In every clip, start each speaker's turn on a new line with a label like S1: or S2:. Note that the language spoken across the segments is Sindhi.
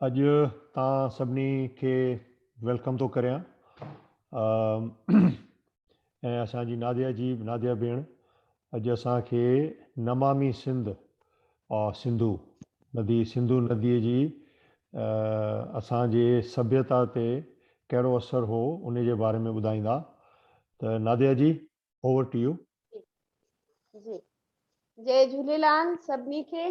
S1: اڄ تان سڀني کي ويلڪم ٿو ڪريان ۽ اسان جي ناديا جي ناديا ڀيڻ اڄ اسان کي نمامي سنڌ اور سنڌو ندي سنڌو ندي جي اسان جي سڀيتا تي ڪهڙو اثر هو ان جي باري ۾ ٻڌائيندا ته Nadia ji over to you جي
S2: جي جهليلان سڀني کي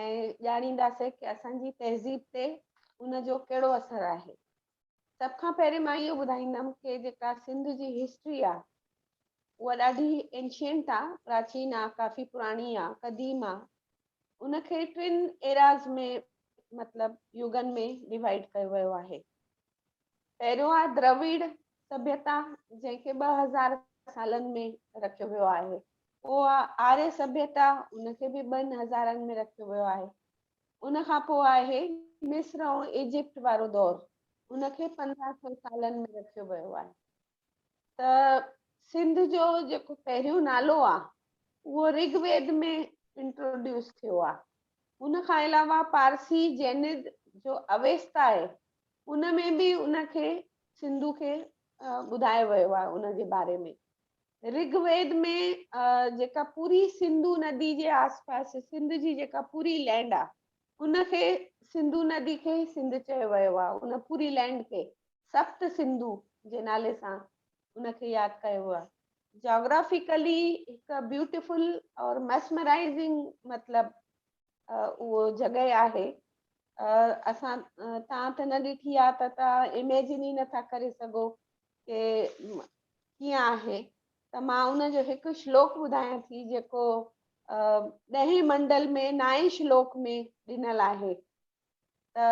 S2: ۽ ڄاڻينداسين ڪي اسان جي تهذيب تي ان جو ڪهڙو اثر آهي سڀ کان پهرين مان اهو ٻڌائيندم ڪي جيڪا سنڌ جي هسٽري آهي اها ڏاڍي انشينٽ آهي پراچين آهي ڪافي پراڻي آهي قديم آهي ان کي ٽن ايراز ۾ مطلب يوگن ۾ ڊوائيڊ ڪيو ويو آهي پهريون آهي درويڙ سڀيتا جنهن کي ٻه هزار سالن ۾ رکيو ويو آهي پوء آري سڀيتا ان کي به ٻن هزارن ۾ رکيو ويو آهي ان کان پوء آهي مصر ۽ ايجپٽ وارو دور ان کي پندرهن سو سالن ۾ رکيو ويو آهي ته سنڌ جو جيڪو پهريون نالو آ اهو رگ ويد ۾ انٽروڊيوس ٿيو آ ان کان علاوه پارسي جيند جو اويستا آهي ان ۾ به ان کي سنڌو کي ٻڌايو ويو آهي ان جي باري ۾ رگ ويد ۾ جيڪا پوري سنڌو ندي جي آس پاس سنڌ جي جيڪا پوري لينڊ آ ان کي سنڌو ندي کي ئي سنڌ چيو ويو آهي. ان پوري لينڊ کي سپت سنڌو جي نالي سان ان کي ياد ڪيو ويو آهي. جاگرافيڪلي هڪ بيوٽيفل اور ميسمرائزنگ مطلب اهو جڳهه آهي. اسان تان ته نه ڏٺي آهي ته تان اميجن ئي نٿا ڪري سگهو ڪي ڪيئن آهي. ته مان ان جو هڪ شلوڪ ٻڌايان ٿي جيڪو ڏهين منڊل ۾ نائين شلوڪ ۾ ڏنل آهي ته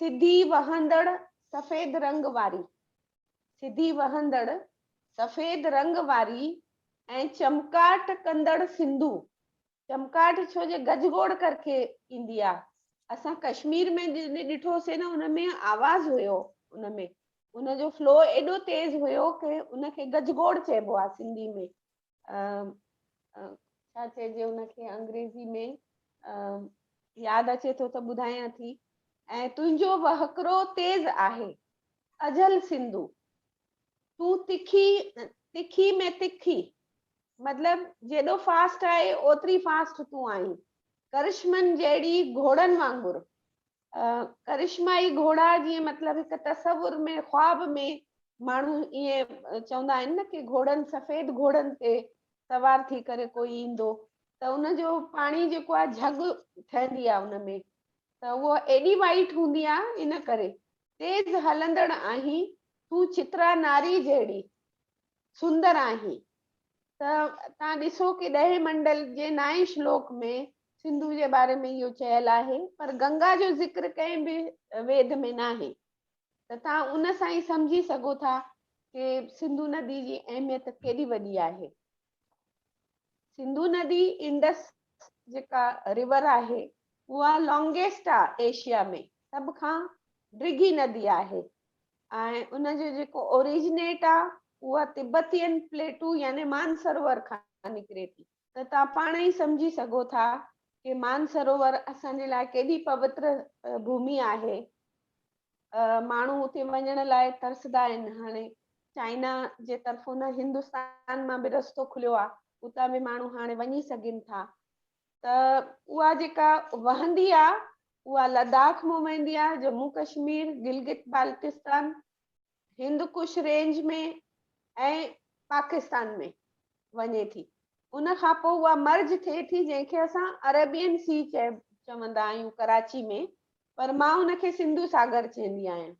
S2: سڌي وهندڙ سفيد رنگ واري سڌي وهندڙ سفيد رنگ واري ۽ چمڪاٽ ڪندڙ سنڌو چمڪاٽ ڇو جي گج گوڙ ڪر ڪي ايندي آ اسان ڪشمير ۾ جڏهن ڏٺو سي نه ان ۾ آواز هيو ان ۾ ان جو فلو ايڏو تيز هيو ڪي ان کي گج گوڙ چئبو آ سنڌي ۾ ڇا چئجي ان کي انگريزي ۾ ياد اچي ٿو ته ٻڌايان ٿي ۽ تنهنجو وهڪرو تيز آهي اجهل سنڌو تون تکي تکي ۾ تکي مطلب جيڏو فاسٽ آهي اوتري فاسٽ تون آهين ڪرشمن جهڙي گهوڙن وانگر ڪرشمائي گهوڙا جيئن مطلب هڪ تصور ۾ خواب ۾ ماڻهو ائين چوندا آهن نه ڪي گهوڙن سفيد گهوڙن تي سوار ٿي ڪري ڪوئي ايندو ته ان جو پاڻي جيڪو آهي جهڳ ٺهندي آهي ان ۾ ته اهو ايڏي وائٽ هوندي آهي ان ڪري تيز هلندڙ آهين، تون چترا ناري جهڙي سندر آهين ته تان ڏسو ڪي ڏهين منڊل جي نائين شلوڪ ۾ سنڌو جي باري ۾ اهو چيل آهي پر گنگا جو ذڪر ڪنهن به ويد ۾ ناهي ته تان ان سان ئي سمجهي سگهو ٿا ڪي سنڌو ندي جي اهميت ڪيڏي وڏي آهي. سنڌو ندي انڊس جيڪا ريور آهي اها لانگيسٽ آ ايشيا ۾ سڀ کان ڊگهي ندي آهي ۽ ان جو جيڪو اوريجنيٽ آ اها تبتين پليٽو يعني مانسرور کان نڪري ٿي ته تان پاڻ ئي سمجهي سگهو ٿا ڪي مانسرور اسان جي لاء ڪيڏي پوتر ڀومي آهي ماڻهو اتي وڃڻ لاء ترسدا آهن هاڻي چائنا جي طرفون نه هندستان مان به رستو کليو آهي اتان به ماڻهو هاڻي وڃي سگهن ٿا ته اها جيڪا وهندي آهي اها لداخ مان وهندي آهي جمون ڪشمير گلگت بالتستان هندڪش رينج ۾ ۽ پاڪستان ۾ وڃي ٿي ان کان پوء اها مرج ٿئي ٿي جنهن کي اسان عربين سي چوندا آهيون ڪراچي ۾ پر مان ان کي سنڌو ساگر چيندي آهيان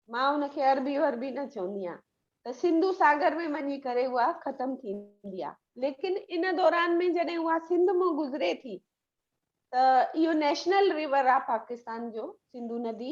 S2: مان ان کي عربي وربي نه چوندي آهيان ته سنڌو ساگر ۾ وڃي ڪري اها ختم ٿيندي آهي ليڪن ان دوران ۾ جڏهن اها سنڌ مان گذري ٿي ته اهو نيشنل ريور آهي پاڪستان جو سنڌو ندي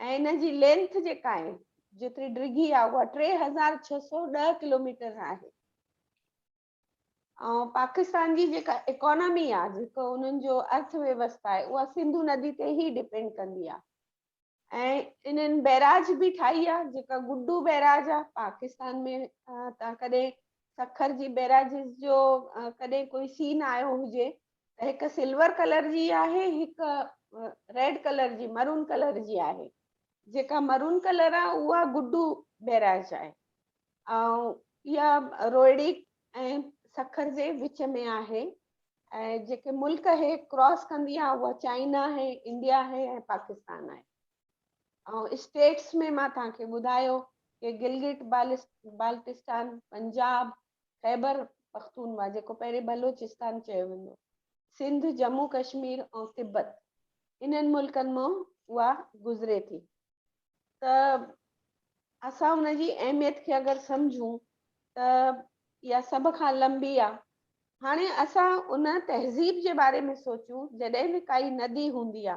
S2: ۽ ان جي لينٿ جيڪا آهي جيتري ڊگهي آهي اها ٽي هزار ڇهه سؤ ڏهه ڪلوميٽر آهي ۽ پاڪستان جي جيڪا اڪانامي آهي جيڪو انهن جو ارٿ ويوستا آهي اها سنڌو ندي تي ئي ڊپينڊ ڪندي آهي ۽ انهن بئراج به ٺاهي آهي جيڪا گڊو بئراج آهي پاڪستان ۾ تان ڪڏهن سکر جي بئراجز جو ڪڏهن ڪوئي سين آيو هجي هڪ سلور ڪلر جي آهي هڪ ريڊ ڪلر جي مرون ڪلر جي آهي جيڪا مرون ڪلر آ اها گڊو بيراج آهي ۽ يا روئڙي ۽ سکر جي وچ ۾ آهي ۽ جيڪي ملڪ هي ڪراس ڪندي آ اها چائنا هي انڊيا هي ۽ پاڪستان آهي ۽ اسٽيٽس ۾ مان تان کي ٻڌايو ڪي گلگت بالستان پنجاب خيبر پختونوا جيڪو پهرين بلوچستان چيو ويندو، سنڌ، جمون ڪشمير ۽ تبت انهن ملڪن مان اها گذري ٿي ته اسان ان جي اهميت کي اگر سمجهون ته اها سڀ کان لنبي آ. هاڻي اسان ان تهذيب جي باري ۾ سوچون جڏهن به ڪائي ندي هوندي آ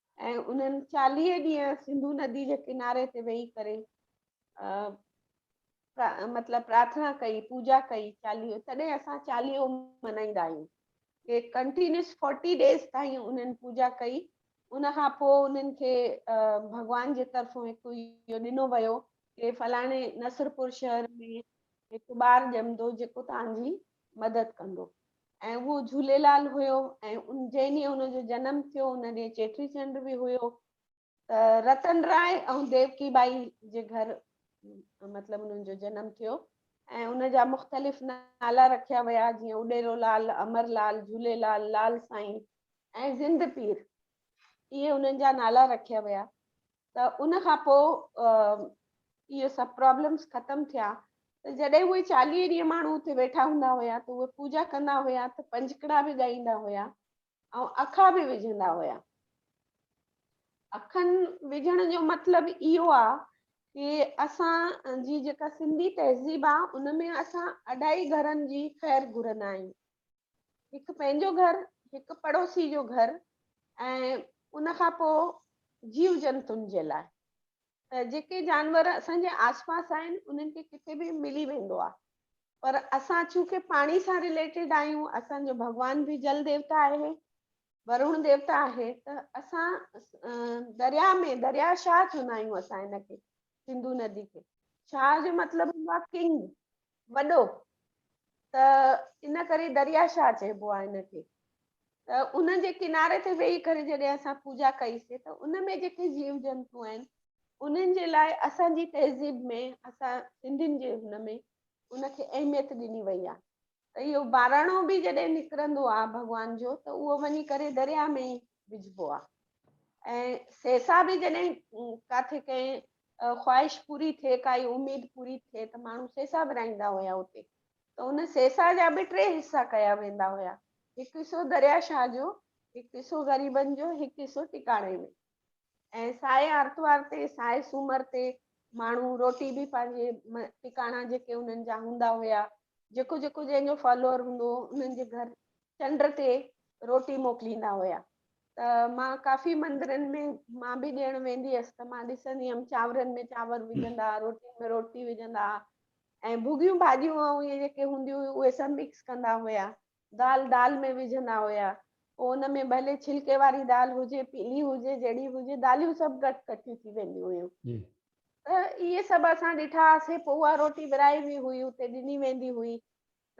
S2: ۽ انهن چاليهه ڏينهن سنڌو ندي جي ڪناري تي ويهي ڪري مطلب پرارٿنا ڪئي پوجا ڪئي چاليهو تڏهن اسان چاليهو ملهائيندا آهيون ڪي ڪنٽينيوس 40 ڊيز تائين انهن پوجا ڪئي ان کان پوء انهن کي ڀڳوان جي طرفون هڪ اهو ڏنو ويو ڪي فلاڻي نصرپور شهر ۾ هڪ ٻار ڄمندو جيڪو توهان جي مدد ڪندو ۽ اهو جهوليلال هيو ۽ جنهن ڏينهن ان جو جنم ٿيو ان ڏينهن چيٽي چنڊ به هيو ته رتن راء ۽ ديوڪي ٻائي جي گهر مطلب انهن جو جنم ٿيو ۽ ان جا مختلف نالا رکيا ويا جيئن اڏيرو لال امر لال جھولي لال لال سائين ۽ زند پير اهي انهن جا نالا رکيا ويا ته ان کان پوء اهي سڀ پرابلمس ختم ٿيا ته جڏهن اهي چاليهه ڏينهن ماڻهو اتي ويٺا هوندا هيا ته اهي پوجا ڪندا هيا ته پنجڪڙا به ڳائيندا هيا ۽ اکا به وجهندا هيا اکن وجهڻ جو مطلب اهو آ ڪي اسان جي جيڪا سنڌي تهذيب آ ان ۾ اسان اڍائي گهرن جي خير گهرندا آهيون هڪ پنهنجو گهر، هڪ پڙوسي جو گهر ۽ ان کان پوء جيو جنتن جي لاء ته جيڪي جانور اسان جي آس پاس آهن انهن کي ڪٿي به ملي ويندو آهي پر اسان چونڪه پاڻي سان رليٽيڊ آهيون اسان جو ڀڳوان به جل ديوتا آهي ورون ديوتا آهي ته اسان دريا ۾ دريا شاهه چوندا آهيون اسان هن کي سنڌو ندي کي شاهه جو مطلب هوندو آهي ڪنگ وڏو ته ان ڪري دريا شاهه چئبو آهي ان کي ته ان جي ڪناري تي ويهي ڪري جڏهن اسان پوجا ڪئي سي ته ان ۾ جيڪي جيو جنتو آهن انهن جي لاء اسان جي تهذيب ۾ اسان سنڌين جي هن ۾ ان کي اهميت ڏني وئي آهي ته اهو ٻاراڻو به جڏهن نڪرندو آهي ڀڳوان جو ته اهو وڃي ڪري دريا ۾ وجهبو آ ۽ سيسا به جڏهن ڪاٿي ڪنهن خواهش پوري ٿئي ڪائي اميد پوري ٿئي ته ماڻهو سيسا ورهائيندا هيا اتي ته ان سيسا جا به ٽي حصا ڪيا ويندا هيا هڪ حصو دريا شاهه جو هڪ حصو غريبن جو هڪ حصو ٽڪاڻي ۾ ۽ سائي آرتوار تي سائي سومر تي ماڻهو روٽي به پنهنجي ٽڪاڻا جيڪي انهن جا هوندا هيا جيڪو جيڪو جنهن جو فالوور هوندو هو انهن جي گهر چنڊ تي روٽي موڪليندا هيا ته مان ڪافي مندرن ۾ مان به ڏيڻ ويندي هيس ته مان ڏسندي هيم چانورن ۾ چانور وجهندا روٽين ۾ روٽي وجهندا ۽ ڀڳيون ڀاڄيون ائين جيڪي هونديون هيون اهي سڀ مڪس ڪندا هيا دال دال ۾ وجهندا هيا پوء ان ۾ ڀلي ڇلڪي واري دال هجي پيلي هجي جهڙي هجي داليون سڀ گهٽ ڪٺيون ٿي وينديون هيون ته اهي سڀ اسان ڏٺا هئاسي پوء اها روٽي ورهائي وي هئي اتي ڏني ويندي هئي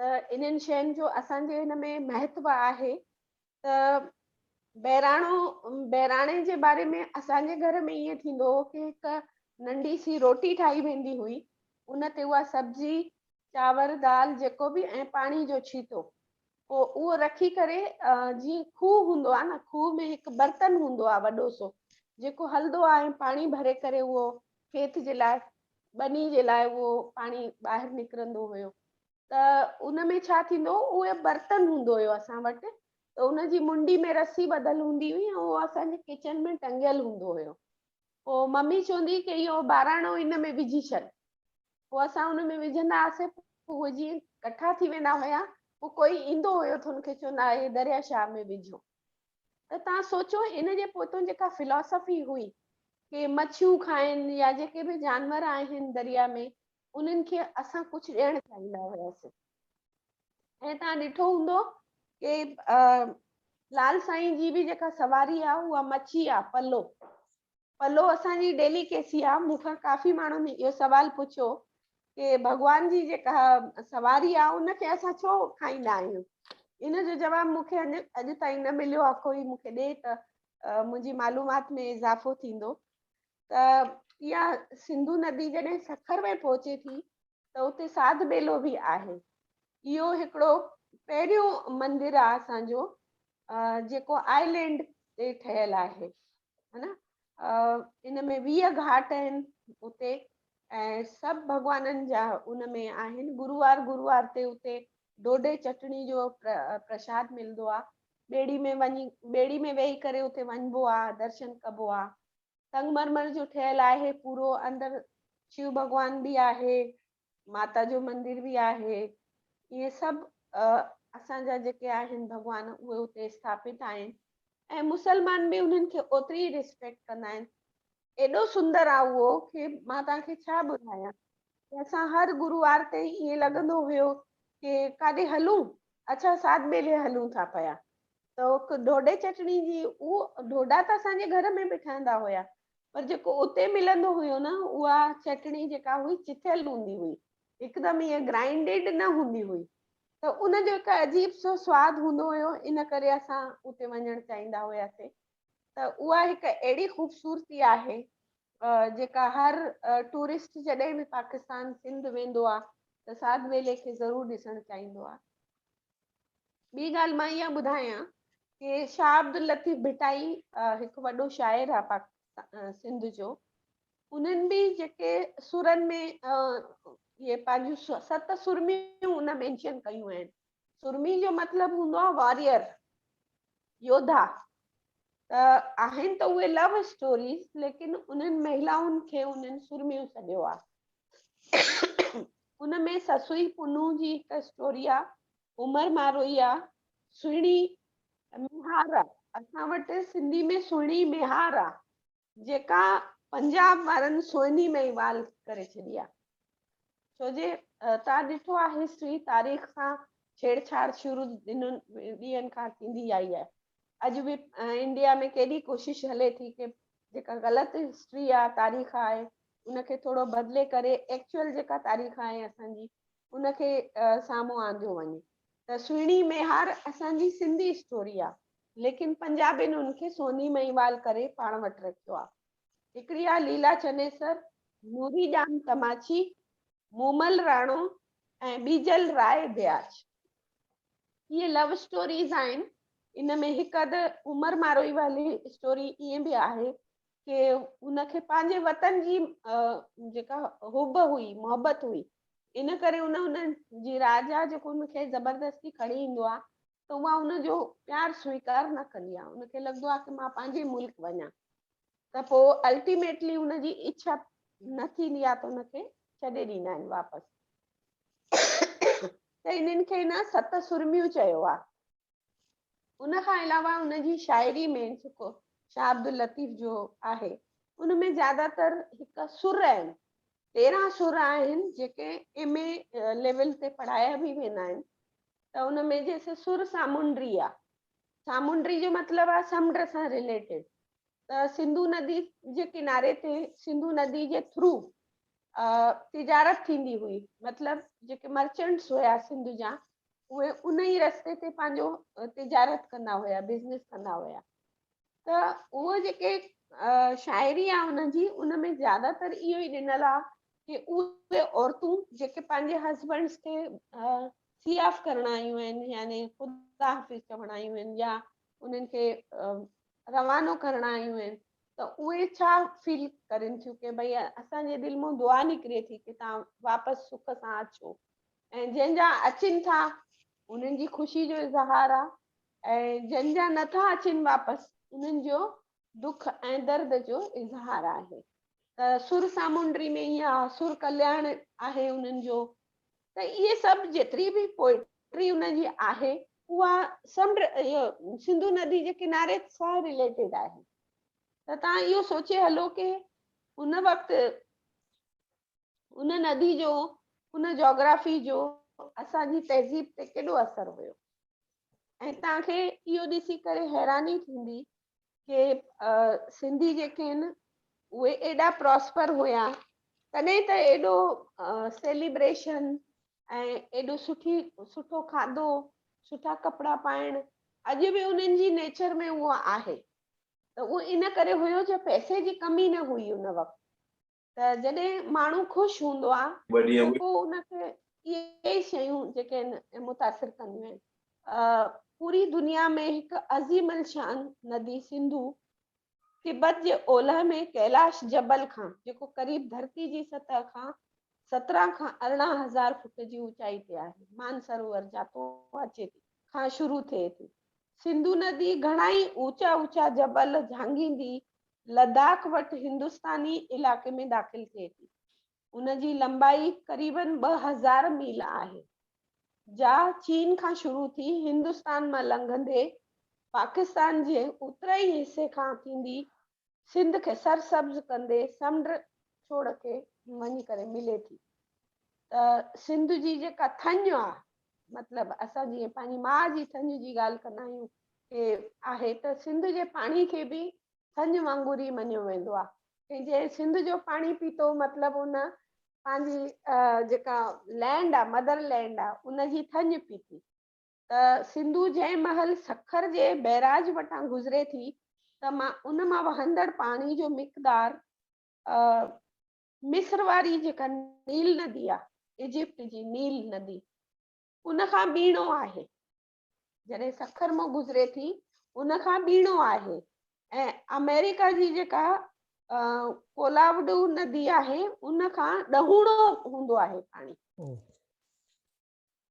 S2: ته انهن شين جو اسان جي هن ۾ مهتو آهي ته بهراڻو بهراڻي جي باري ۾ اسان جي گهر ۾ ائين ٿيندو هو ڪي هڪ ننڍي سي روٽي ٺاهي ويندي هئي ان تي اها سبزي چاور دال جيڪو به ۽ پاڻي جو ڇيٽو پو اهو رکي ڪري جي کوه هوندو آهي نه کوه ۾ هڪ برتن هوندو آهي وڏو سو جيڪو هلدو آهي ۽ پاڻي ڀري ڪري اهو کيت جي لاء ٻني جي لاء اهو پاڻي ٻاهر نڪرندو هيو ته ان ۾ ڇا ٿيندو اهي برتن هوندو هيو اسان وٽ ته ان جي منڊي ۾ رسي ٻڌل هوندي هئي ۽ اهو اسان جي ڪچن ۾ ٽنگيل هوندو هيو پوء ممي چوندي ڪي اهو ٻاراڻو ان ۾ وجهي ڇڏ پوء اسان ان ۾ وجهندا هئاسين پوء اهي جيئن ڪٺا ٿي ويندا هيا پوء ڪوئي ايندو هيو ته ان کي چوندا هئا هي دريا شاهه ۾ وجهو ته توهان سوچو ان جي پوئتون جيڪا فلاسافي هئي ڪي مڇيون کائن يا جيڪي به جانور آهن دريا ۾ انهن کي اسان ڪجهه ڏيڻ چاهيندا هياسين ۽ توهان ڏٺو هوندو ڪي لال سائين جي به جيڪا سواري آهي اها مڇي آهي پلو پلو اسان جي ڊيلي ڪيسي آ مون کان ڪافي ماڻهن اهو سوال پڇيو ڪي ڀڳوان جي جيڪا سواري آ ان کي اسان ڇو کائيندا آهيون ان جو جواب مون کي اڄ تائين نه مليو آ ڪوئي مون کي ڏي ته منهنجي معلومات ۾ اضافو ٿيندو ته اها سنڌو ندي جڏهن سکر ۾ پهچي ٿي ته اتي ساڌ ٻيلو به آهي اهو هڪڙو پهريون مندر آ اسان جو جيڪو آئلينڊ تي ٺهيل آهي هن ان ۾ ويهه گهاٽ آهن اتي ۽ سڀ ڀڳوانن جا ان ۾ آهن گروار گروار تي اتي ڊوڊي چٽڻي جو پرشاد ملندو آ ٻيڙي ۾ وڃي ٻيڙي ۾ ويهي ڪري اتي وڃبو آ درشن ڪبو آ سنگ مرمر جو ٺهيل آهي پورو اندر شو ڀڳوان به آهي ماتا جو مندر به آهي اهي سڀ اسان جا جيڪي آهن ڀڳوان اهي اتي اسٿاپت آهن ۽ مسلمان به انهن کي اوتري ئي ريسپيڪٽ ڪندا آهن ايڏو سندر آهي اهو کي مان توهان کي ڇا ٻڌايان اسان هر گروار تي ائين لڳندو هيو کي ڪاڏي هلون اڇا سات ٻيلي هلون ٿا پيا ته ڊوڊي چٽڻي جي اهو ڊوڊا ته اسان جي گهر ۾ به ٺهندا هيا پر جيڪو اتي ملندو هيو نه اها چٽڻي جيڪا هئي چٿيل هوندي هئي هڪدم ائين گرائنڊيڊ نه هوندي هئي ته ان جو هڪ عجيب سو سواد هوندو هيو ان ڪري اسان اتي وڃڻ چاهيندا هياسين ته اها هڪ اهڙي خوبصورتي آهي جيڪا هر ٽورسٽ جڏهن به پاڪستان سنڌ ويندو آهي ته ساڌ ويلي کي ضرور ڏسڻ چاهيندو آهي ٻي ڳالهه مان اها ٻڌايان ڪي شاهه عبداللطيف ڀٽائي هڪ وڏو شاعر آ پاڪ سنڌ جو انهن به جيڪي سرن ۾ اهي پنهنجون ست سرميون ان مينشن ڪيون آهن سرمي جو مطلب هوندو آهي واريئر يوڌا ته آهن ته اهي لو اسٽوريز ليڪن انهن مهلائن کي انهن سرميون سڏيو آهي ان ۾ سسئي پنهون جي هڪ اسٽوري آ، عمر ماروئي آ، سهڻي ميهار آ، اسان وٽ سنڌي ۾ سهڻي ميهار آ، جيڪا پنجاب وارن سهني ۾ ئي وال ڪري ڇڏي آ. ڇو جي توهان ڏٺو آ هسٽري تاريخ سان ڇيڙ ڇاڙ شروع ڏنن ڏينهن کان ٿيندي آئي آهي. اڄ به انڊيا ۾ ڪيڏي ڪوشش هلي ٿي ڪي جيڪا غلط هسٽري آ تاريخ آهي ان کي ٿورو بدلي ڪري ايڪچوئل جيڪا تاريخ آهي اسان جي ان کي سامهون آنديو وڃي ته سهڻي ميهار اسان جي سنڌي اسٽوري آ ليڪن پنجابين ان کي سوني مهيوال ڪري پاڻ وٽ رکيو آ هڪڙي آ ليلا چنيسر نوري ڄام تماچي مومل راڻو ۽ ٻيجل راء بياچ اهي لو اسٽوريز آهن ان ۾ هڪ اڌ عمر ماروئي واري اسٽوري ائين به آهي ڪي ان کي پنهنجي وطن جي جيڪا حب هئي محبت هئي ان ڪري ان ان جي راجا جيڪو ان کي زبردستي کڻي ايندو آ ته اها ان جو پيار سويڪار نه ڪندي آ ان کي لڳندو آ ته مان پنهنجي ملڪ وڃان ته پو الٽيميٽلي ان جي اڇا نه ٿيندي آ ته ان کي ڇڏي ڏيندا آهن واپس ته انهن کي نه ست سرميون چيو آهي. ان کان علاوه ان جي شاعري ۾ جيڪو شاهه عبداللطيف جو آهي ان ۾ زياده تر هڪ سر آهن تيرهن سر آهن جيڪي ايم اي ليول تي پڙهايا به ويندا آهن ته ان ۾ جيسي سر سامونڊي آهي سامونڊي جو مطلب آهي سمنڊ سان ريليٽيڊ ته سنڌو ندي جي ڪناري تي سنڌو ندي جي ٿرو تجارت ٿيندي هئي مطلب جيڪي مرچنٽس هيا سنڌ جا اهي ان ئي رستي تي پنهنجو تجارت ڪندا هيا بزنس ڪندا هيا ته اهو جيڪي شاعري آ ان جي ان ۾ زياده تر اهو ئي ڏنل آ ڪي اهي عورتون جيڪي پنهنجي هسبنڊس کي سي آف ڪرڻ آيون آهن يعني خدا حافظ چوڻ آيون آهن يا انهن کي روانو ڪرڻا آهن ته اهي ڇا فيل ڪرين ٿيون ڪي ڀئي اسان جي دل مون دعا نڪري ٿي ڪي تان واپس سک سان اچو ۽ جن جا اچين ٿا انهن جي خوشي جو اظهار آ ۽ جن جا نه ٿا اچين واپس انهن جو دک ۽ درد جو اظهار آهي ته سر سامونڊري ۾ اها سر ڪلياڻ آهي انهن جو ته اهي سڀ جيتري به پوئٽري ان جي آهي اها سمنڊ اهو سنڌو ندي جي ڪناري سان رليٽيڊ آهي ته تان اهو سوچي هلو ڪي ان وقت ان ندي جو ان جاگرافي جو اسان جي تهذيب تي ڪيڏو اثر هيو ۽ تان کي اهو ڏسي ڪري حيراني ٿيندي ڪي سنڌي جيڪي آهن اهي ايڏا پراسپر هيا تڏهن ته ايڏو سيليبريشن ۽ ايڏو سٺي سٺو کاڌو سٺا ڪپڙا پائڻ اڄ به انهن جي نيچر ۾ اهو آهي ته اهو ان ڪري هيو جو پئسي جي ڪمي نه هئي ان وقت ته جڏهن ماڻهو خوش هوندو آهي ته پوء ان کي اهي ئي شيون جيڪي آهن متاثر ڪنديون آهن. پوري دنيا ۾ هڪ عظيم الشان ندي سنڌو تبت جي اولهه ۾ ڪيلاش جبل کان جيڪو قريب ڌرتي جي سطح کان سترهن کان ارڙهن هزار فوٽ جي اوچائي تي آهي مانسروور جاتو اچي ٿي کان شروع ٿئي ٿي. سنڌو ندي گهڻائي اوچا اوچا جبل جهانگيندي لداخ وٽ هندستاني علائقي ۾ داخل ٿئي ٿي. ان جي لنبائي قريباً ٻه هزار ميل آهي، جا چين کان شروع ٿي هندستان مان لنگهندي پاڪستان جي اترئين حصي کان ٿيندي سنڌ کي سرسبز ڪندي سمنڊ ڇوڙ کي وڃي ڪري ملي ٿي ته سنڌ جي جيڪا ٿڃ آهي مطلب اسان جيئن پنهنجي ماء جي سڃ جي ڳالهه ڪندا آهيون هي آهي ته سنڌ جي پاڻي کي به سڃ وانگر ئي مڃيو ويندو آهي ۽ جنهن سنڌ جو پاڻي پيتو مطلب ان پنهنجي جيڪا لينڊ آهي مدر لينڊ آهي ان جي ٿڃ پيتي ته سنڌو جنهن مهل سکر جي بئراج وٽان گذري ٿي ته مان ان مان وهندڙ پاڻي جو مقدار مصر واري جيڪا نيل ندي آ ايجپٽ جي نيل ندي ان کان ٻيڻو آهي جڏهن سکر مون گذري ٿي ان کان ٻيڻو آهي ۽ آمريڪا جي جيڪا ڪولاوڊو ندي آهي ان کان ڏهوڻو هوندو آهي پاڻي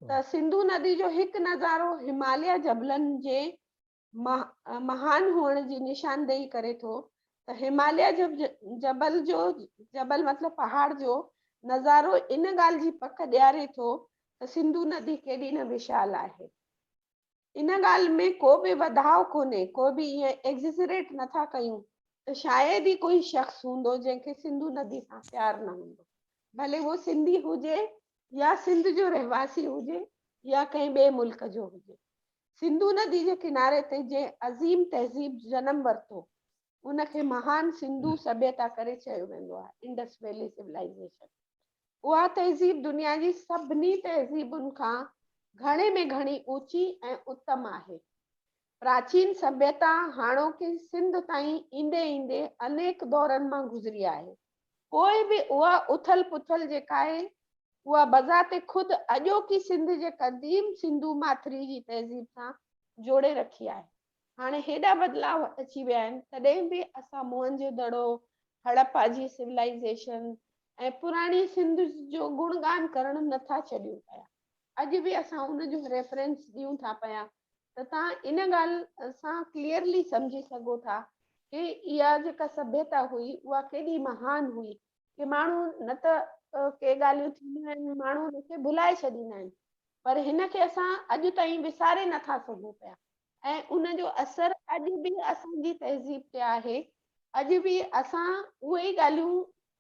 S2: ته سنڌو ندي جو هڪ نظارو هماليا جبلن جي مهان هئڻ جي نشاندهي ڪري ٿو ته هماليه جو جبل جو جبل مطلب پهاڙ جو نظارو ان ڳالهه جي پڪ ڏياري ٿو ته سنڌو ندي ڪيڏي نه وشال آهي. ان ڳالهه ۾ ڪو به وڌاء ڪونهي، ڪو به ائين ايگزيجريٽ نه ٿا ڪيون ته شايد ئي ڪوئي شخص هوندو جنهن کي سنڌو ندي سان پيار نه هوندو ڀلي هو سنڌي هجي يا سنڌ جو رهواسي هجي يا ڪنهن ٻئي ملڪ جو هجي سنڌو ندي جي ڪناري تي جنهن عظيم تهذيب جنم ورتو ان کي مهان سنڌو سڀيتا ڪري چيو ويندو آهي، انڊس ويلي سولائيزيشن. اها تهذيب دنيا جي سڀني تهذيبن کان گهڻي ۾ گهڻي اوچي ۽ اتم آهي. پراچين سڀيتا هاڻوڪي سنڌ تائين ايندي ايندي انيڪ دورن مان گذري آهي. پوء به اها اٿل پٿل جيڪا آهي، اها بذات خود اڄوڪي سنڌ جي قديم سنڌو ماٿري جي تهذيب سان جوڙي رکي آهي. هاڻي هيڏا بدلاء اچي ويا آهن، تڏهن به اسان موهنجو دڙو، هڙپا جي سولائيزيشن ۽ پراڻي سنڌ جو گڻ ڳان ڪرڻ نه ٿا ڇڏيون پيا. اڄ به اسان ان جو ريفرنس ڏيون ٿا پيا ته توهان ان ڳالهه سان ڪليئرلي سمجهي سگهو ٿا ڪي اها جيڪا سڀيتا هئي اها ڪيڏي مهان هئي ڪي ماڻهو نه ته ڪي ڳالهيون ٿينديون آهن ماڻهو ان کي ڀلائي ڇڏيندا آهن پر هن کي اسان اڄ تائين وساري نه ٿا سگهون پيا ۽ ان جو اثر اڄ به اسان جي تهذيب تي آهي اڄ به اسان اهي ئي ڳالهيون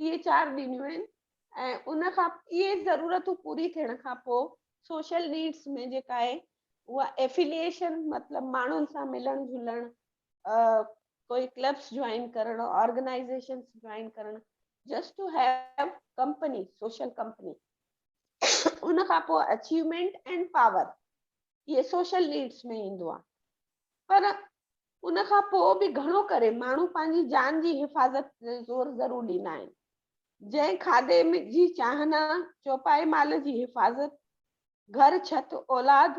S2: اهي چار ڏنيون آهن ۽ ان کان اهي ضرورتون پوري ٿيڻ کان پوء سوشل نيڊس ۾ جيڪا آهي اها افيليشن مطلب ماڻهن سان ملڻ جلڻ ڪوئي ڪلبس جوائن ڪرڻ آرگنائزيشنس جوائن ڪرڻ just to have company social company ان کان پوء اچيومينٽ اينڊ پاور اهي سوشل نيڊس ۾ ايندو آهي پر ان کان پوء به گهڻو ڪري ماڻهو پنهنجي جان جي حفاظت تي زور ضرور ڏيندا آهن جنهن کاڌي جي چانهن، چوپائي مال جي حفاظت، گهر، ڇت، اولاد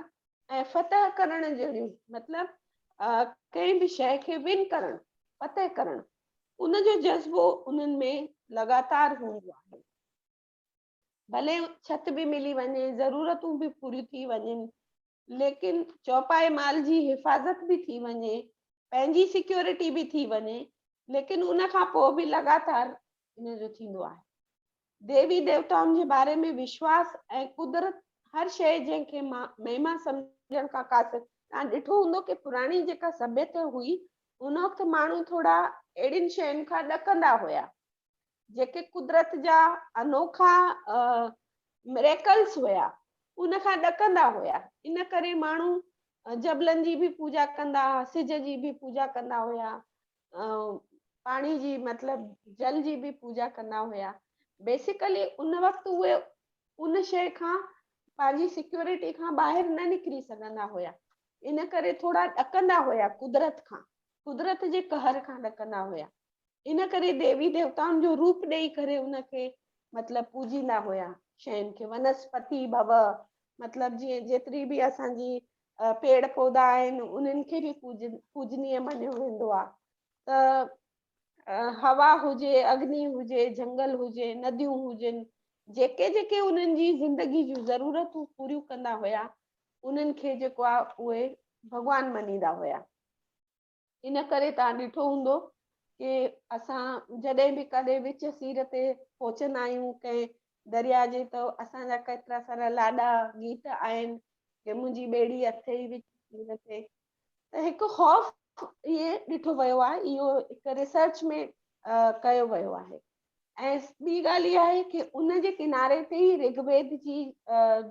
S2: ۽ فتح ڪرڻ جهڙيون مطلب ڪنهن به شيء کي ون ڪرڻ، فتح ڪرڻ، ان جو جذبو انهن ۾ لڳاتار هوندو آهي. ڀلي ڇت به ملي وڃي، ضرورتون به پوريون ٿي وڃن، ليڪن چوپائي مال جي حفاظت به ٿي وڃي، پنهنجي سيڪيورٽي به ٿي وڃي، ليڪن ان کان پوء به لڳاتار ان جو ٿيندو آهي. ديوي ديوتائن جي باري ۾ وشواس ۽ قدرت هر شيء جنهن کي مهما سمجهڻ کان قاصر توهان ڏٺو هوندو ڪي پراڻي جيڪا سڀيت هئي ان وقت ماڻهو ٿورا اهڙين شين کان ڏڪندا هيا جيڪي قدرت جا انوکا Miracles هيا ان کان ڏڪندا هيا ان ڪري ماڻهو جبلن جي به پوجا ڪندا ها سج جي به پوجا ڪندا هيا پاڻي جي مطلب جل جي به پوجا ڪندا هيا بيسيڪلي ان وقت اهي ان شي کان پنهنجي سيڪيورٽي کان ٻاهر نه نڪري سگهندا هيا ان ڪري ٿورا ڏڪندا هيا قدرت کان قدرت جي قهر کان ڏڪندا هيا ان ڪري ديوي ديوتائن جو روپ ڏئي ڪري ان کي مطلب پوڄيندا هيا شين کي ونسپتي ڀو مطلب جي جيتري به اسان جي پيڙ پودا آهن انهن کي به پوجني مڃيو ويندو آهي ته هوا هجي اگني هجي جنگل هجي نديون هجن جيڪي جيڪي انهن جي زندگي جون ضرورتون پوريون ڪندا هيا انهن کي جيڪو آهي اهي ڀڳوان مڃيندا هيا ان ڪري توهان ڏٺو هوندو ڪي اسان جڏهن به ڪڏهن وچ سير تي پهچندا آهيون ڪنهن درياء جي ته اسان جا ڪيترا سارا لاڏا گيت آهن ڪي منهنجي ٻيڙي اٿئي وچ سير تي ته هڪ خوف اهي ڏٺو ويو آهي اهو هڪ ريسرچ ۾ ڪيو ويو آهي ۽ ٻي ڳالهه اها آهي ڪي ان جي ڪناري تي ئي رگ ويد جي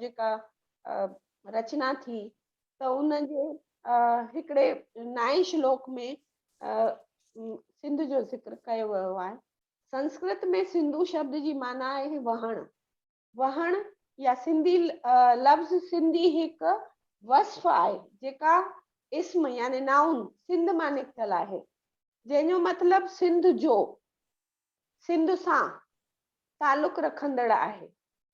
S2: جيڪا رچنا ٿي ته ان جي هڪڙي نائين شلوڪ ۾ سنڌ جو ذڪر ڪيو ويو آهي سنسڪرت ۾ سنڌو شبد جي معنيٰ آهي وهڻ وهڻ يا سنڌي لفظ سنڌي هڪ وصف آهي جيڪا اسم يعني نائون سنڌ مان نڪتل آهي جنهن جو مطلب سنڌ جو سنڌ سان تعلق رکندڙ آهي.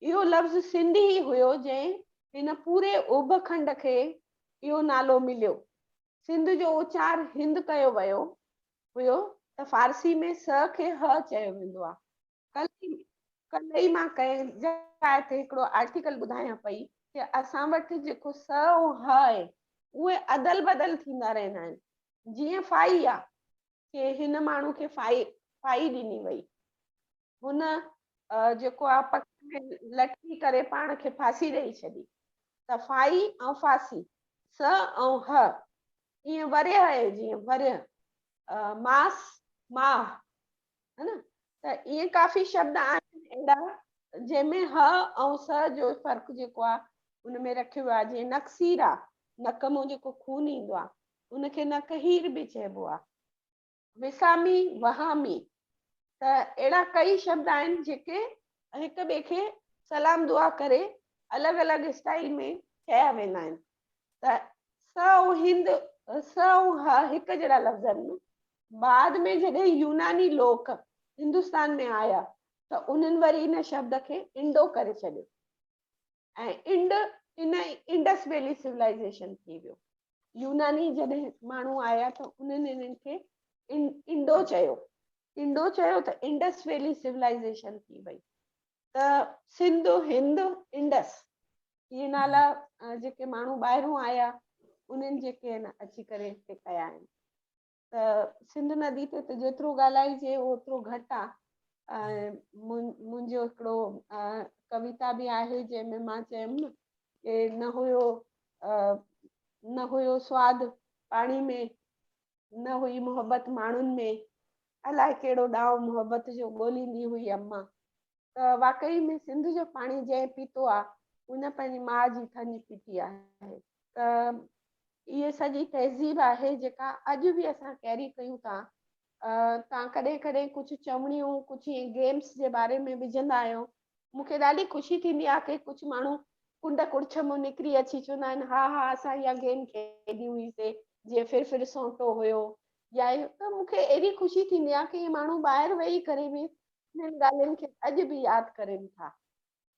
S2: اهو لفظ سنڌ ئي هيو جنهن هن پوري اوڀ کنڊ کي اهو نالو مليو. سنڌ جو اوچار هند ڪيو ويو هيو ته فارسي ۾ س کي ه چيو ويندو آ. ڪلهه ڪلهه ئي مان ڪنهن جاء تي هڪڙو آرٽيڪل ٻڌايان پئي ته اسان وٽ جيڪو س ۽ ه آهي اهي ادل بدل ٿيندا رهندا آهن جيئن فائي آ کي هن ماڻهو کي ڦاهي ڦاهي ڏني وئي. هن جيڪو آ پڪ ۾ لٽڪي ڪري پاڻ کي ڦاسي ڏئي ڇڏي ته ڦاهي ۽ ڦاسي س ۽ ه ائين ورهيه آهي جيئن ورهيه، ماس، ماهه ها نه ته ائين ڪافي شبد آهن اهڙا جنهن ۾ ه ۽ س جو فرق جيڪو آ ان ۾ رکيو ويو آهي جيئن نڪسير آ نڪ مون جيڪو خون ايندو آ ان کي نقهير به چئبو آهي. وسامي، وهامي ته اهڙا ڪئي شبد آهن جيڪي هڪ ٻئي کي سلام دعا ڪري الڳ الڳ اسٽائيل ۾ چيا ويندا آهن ته س ۽ هند، س ۽ ه هڪ جهڙا لفظ آهن. بعد ۾ جڏهن يوناني لوڪ هندستان ۾ آيا ته انهن وري ان شبد کي انڊو ڪري ڇڏيو. ۽ انڊ ان انڊس ويلي سولائيزيشن ٿي ويو يوناني جڏهن ماڻهو آيا ته انهن انهن کي انڊو چيو انڊو چيو ته انڊس ويلي سولائيزيشن ٿي وئي ته سنڌ هند انڊس اهي نالا جيڪي ماڻهو ٻاهرون آيا انهن جيڪي اچي ڪري هتي ڪيا آهن ته سنڌ ندي تي ته جيترو ڳالهائجي اوترو گهٽ آ ۽ منهنجو هڪڙو ڪويتا به آهي جنهن ۾ مان چيم ڪي نه هيو نه هيو سواد پاڻي ۾ نه هئي محبت ماڻهن ۾ الائي ڪهڙو ڏانء محبت جو ڳوليندي هئي اما ته واقعي ۾ سنڌ جو پاڻي جنهن پيتو آهي ان پنهنجي ماء جي ٿڃ پيتي آهي ته اهي سڄي تهذيب آهي جيڪا اڄ به اسان ڪيري ڪيون ٿا تان ڪڏهن ڪڏهن ڪجهه چوڻيون ڪجهه ائين گيمس جي باري ۾ وجهندا آهيو مون کي ڏاڍي خوشي ٿيندي آهي ڪي ڪجهه ماڻهو ڪنڊ ڪڙڇ مون نڪري اچي چوندا آهن ها ها اسان اها گيم کيڏي هئي سي جيئن ڦر ڦر سونٽو هيو يا ته مون کي اهڙي خوشي ٿيندي آهي ڪي ماڻهو ٻاهر ويهي ڪري به انهن ڳالهين کي اڄ به ياد ڪرين ٿا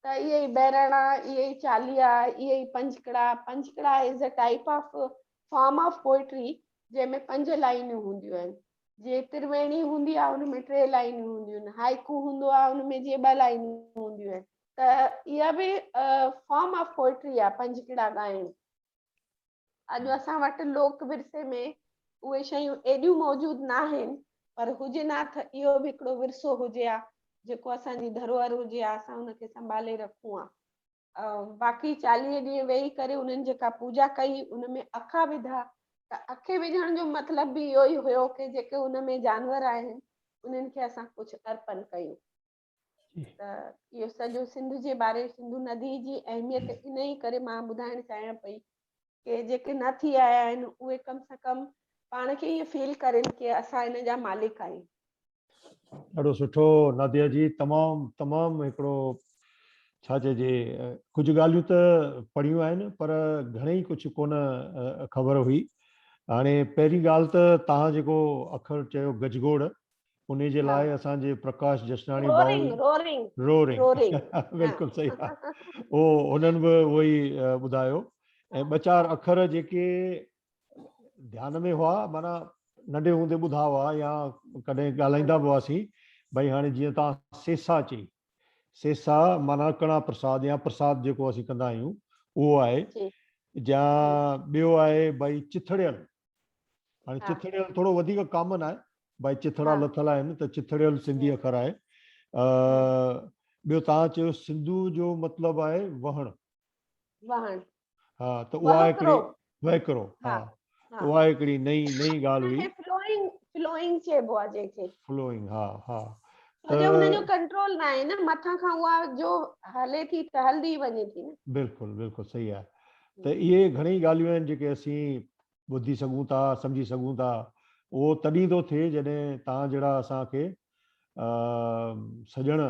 S2: ته اهي ئي بهراڻا، اهي ئي چاليها، اهي ئي پنجڪڙا، پنجڪڙا is a type of form of poetry جنهن ۾ پنج لائينون هونديون آهن، جيئن ترويڻي هوندي آهي ان ۾ ٽي لائينون هونديون آهن، هائيڪو هوندو آهي ان ۾ جيئن ٻه لائينون هونديون آهن ته اها به فارم آف پوئٽري آهي پنجڪڙا ڳائڻ. اڄ اسان وٽ لوڪ ورثي ۾ اهي شيون ايڏيون موجود ناهن پر هجن ها تھ اهو به هڪڙو ورثو هجي ها جيڪو اسان جي ڌروهر هجي ها اسان ان کي سنڀالي رکون ها. باقي چاليهه ڏينهن ويهي ڪري انهن جيڪا پوڄا ڪئي ان ۾ اکا وڌا ته اکي وجهڻ جو مطلب به اهو ئي هيو ڪي جيڪي ان ۾ جانور آهن انهن کي اسان ڪجهه ارپن ڪيون. جي ته اهو سڄو سنڌ جي باري سنڌو ندي جي اهميت انهي ڪري مان ٻڌائڻ چاهيان پئي ڪي جيڪي نه ٿي آيا آهن اهي ڪم سان ڪم پاڻ کي ايئن فيل ڪرين ڪي اسان هن جا مالڪ آهيون.
S1: ڏاڍو سٺو ناديا جي تمام تمام هڪڙو ڇا چئجي ڪجهه ڳالهيون ته پڙهيون آهن پر گهڻي ڪجهه ڪون خبر هئي هاڻي پهرين ڳالهه ته توهان جيڪو اکر چيو گجگوڙ انهي جي لاء اسان جي پرڪاش جشناڻي ڀائو رورنگ رورنگ بلڪل صحيح آ اهو هنن به اهو ئي ٻڌايو ۽ ٻه چار اکر جيڪي ڌيان ۾ هئا معنيٰ ننڍي هوندي ٻڌا هئا يا ڪڏهن ڳالهائيندا به هئاسين ڀئي هاڻي جيئن توهان سيسا چئي سيسا معنيٰ ڪڻا پرساد يا پرساد جيڪو اسين ڪندا آهيون اهو آهي جي جا ٻيو آهي ڀئي چٿڙيل هاڻي چٿڙيل ٿورو وڌيڪ ڪامن آهي ڀائي چٿڙا لٿل آهن ته چٿڙيل سنڌي اکر آهي ٻيو توهان چيو سنڌو جو مطلب آهي وهڻ وهڻ ها ته اها هڪڙي وهڪرو ها اها هڪڙي نئي نئي ڳالهه هئي فلوئنگ فلوئنگ
S2: چئبو آهي جنهن کي فلوئنگ ها ها
S1: ته ان جو
S2: ڪنٽرول نه آهي نه مٿان کان اها جو هلي ٿي ته هلدي وڃي ٿي نه بلڪل بلڪل صحيح
S1: آهي ته اهي گهڻيئي ڳالهيون آهن جيڪي اسين ٻڌي سگهون ٿا، سمجهي سگهون ٿا، اهو تڏهن ٿو ٿئي جڏهن توهان جهڙا اسان کي سڄڻ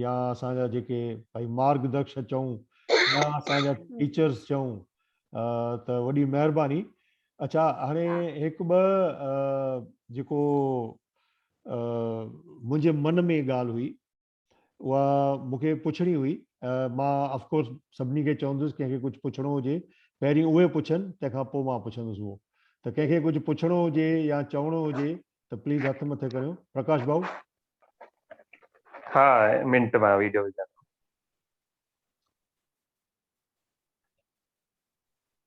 S1: يا اسان جا جيڪي ڀائي مارگ درشڪ چئون يا اسان جا ٽيچرز چئون ته وڏي مهرباني اچا هاڻي هڪ ٻه جيڪو منهنجي من ۾ ڳالهه هئي اها مون کي پڇڻي هئي. مان آف ڪورس سڀني کي چوندس ڪنهن کي ڪجهه پڇڻو هجي پهرين اهي پڇن تنهن کان پوء مان پڇندس اهو ته ڪنهن کي ڪجهه پڇڻو هجي يا چوڻو هجي ته پليز هٿ مٿي ڪريو پرڪاش ڀائو ها
S3: منٽ مان ويڊيو وجهان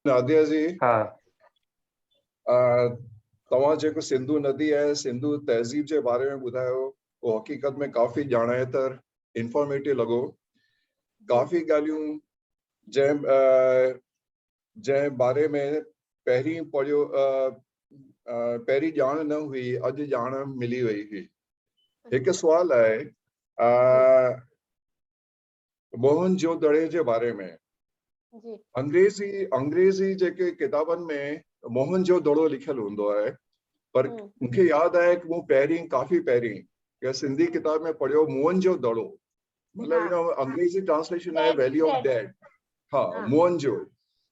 S4: ناديا جي ها توهان جيڪو سنڌو ندي ۽ سنڌو تهذيب جي باري ۾ ٻڌايو اهو حقيقت ۾ ڪافي ڄاڻائيتر انفارميٽو لڳو ڪافي ڳالهيون جنهن جنهن باري ۾ پهرين پڙهيو پهرين ڄاڻ نه هئي اڄ ڄاڻ ملي وئي هئي هڪ سوال آهي موهن جو دڙي جي باري ۾ جي انگريزي انگريزي جيڪي ڪتابن ۾ موهن جو دڙو لکيل هوندو آهي پر مون کي ياد آهي ته مون پهرين ڪافي پهرين ڪنهن سنڌي ڪتاب ۾ پڙهيو موهن جو دڙو مطلب ان انگريزي ٽرانسليشن آهي ويلي آف ڊيڊ ها موهن جو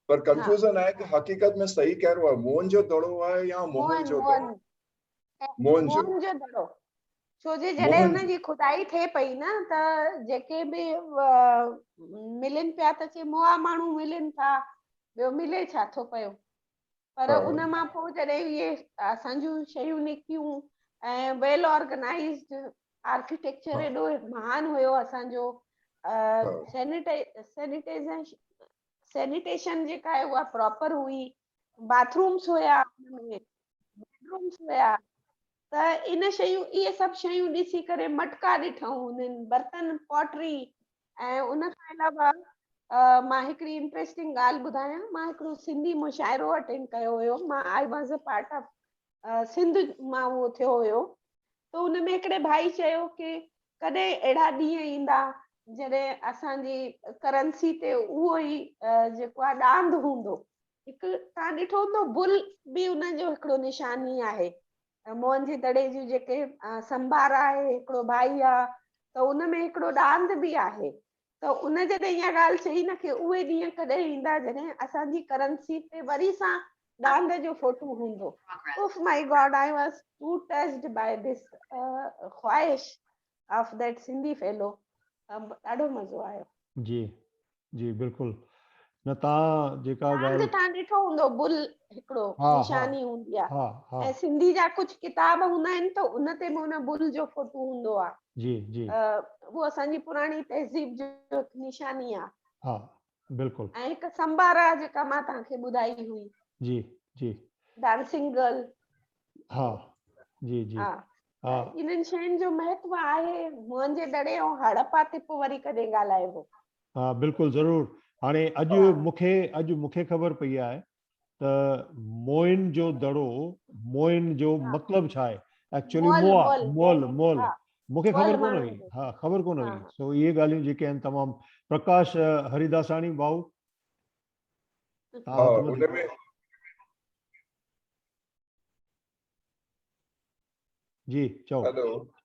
S4: پر ڪنفيوزن آهي ته حقيقت ۾ صحيح ڪهڙو آهي موهن جو دڙو آهي يا موهن جو دڙو موهن جو
S2: دڙو ڇو جي جڏهن ان جي خدائي ٿئي پئي نه ته جيڪي به ملن پيا ته چي موا ماڻهو ملن ٿا ٻيو ملي ڇا ٿو پيو پر ان مان پوء جڏهن اهي اسان جون شيون نڪتيون ۽ ويل آرگنائزڊ آرڪيٽيڪچر ايڏو مهان هيو اسان جو سينيٽائي سينيٽائيزيشن سينيٽيشن جيڪا آهي اها پراپر هئي باٿ رومس هيا بيڊ رومس هيا ته ان شيون اهي سڀ شيون ڏسي ڪري مٽڪا ڏٺائون انهن برتن پاٽري ۽ ان کان علاوه مان هڪڙي انٽريسٽنگ ڳالهه ٻڌايان مان هڪڙو سنڌي مشاعرو اٽينڊ ڪيو هيو مان I was a part of Sindh مان اهو ٿيو هيو ته ان ۾ هڪڙي ڀائي چيو ڪي ڪڏهن اهڙا ڏينهن ايندا جڏهن اسان جي ڪرنسي تي اهو ئي جيڪو آهي ڏاند هوندو هڪ تان ڏٺو هوندو بل به ان جو هڪڙو نشاني آهي موهن جي دڙي جون جيڪي سنڀار آهي هڪڙو ڀائي آهي ته ان ۾ هڪڙو ڏاند به آهي ته ان جڏهن اها ڳالهه چئي نه کي اهي ڏينهن ڪڏهن ايندا جڏهن اسان جي ڪرنسي تي وري سان ڏاند جو فوٽو هوندو oh my God I was too touched by this خواهش آف ڌيٽ سنڌي فيلو ڏاڍو مزو آيو جي
S1: جي بلڪل نه تان جيڪا ڳالهه تان ڏٺو
S2: هوندو
S1: بل
S2: هڪڙو نشاني
S1: هوندي آ
S2: ۽ سنڌي جا
S1: ڪجهه
S2: ڪتاب هوندا آهن ته ان تي به ان بل جو فوٽو هوندو آ جي جي
S1: اهو اسان جي
S2: پراڻي تهذيب جو هڪ نشاني آ ها
S1: بلڪل ۽ هڪ سمبار
S2: آ جيڪا مان توهان کي ٻڌائي هئي جي جي
S1: ڊانسنگ گرل
S2: ها
S1: جي جي ها
S2: انهن
S1: شين جو
S2: مهتو آهي موهنجي دڙي ۽ هڙپا تي پو وري ڪڏهن ڳالهائبو ها بلڪل
S1: ضرور هاڻي اڄ مون کي اڄ مون کي خبر پئي آهي ته موئن جو دڙو موئن جو مطلب ڇا آهي ايڪچولي موا مول
S2: مول
S1: مونکي خبر
S2: ڪونه هئي
S1: ها خبر ڪونه
S2: هئي سو
S1: اهي ڳالهيون جيڪي
S2: آهن
S1: تمام پرڪاش هريداساڻي ڀائو جي چئو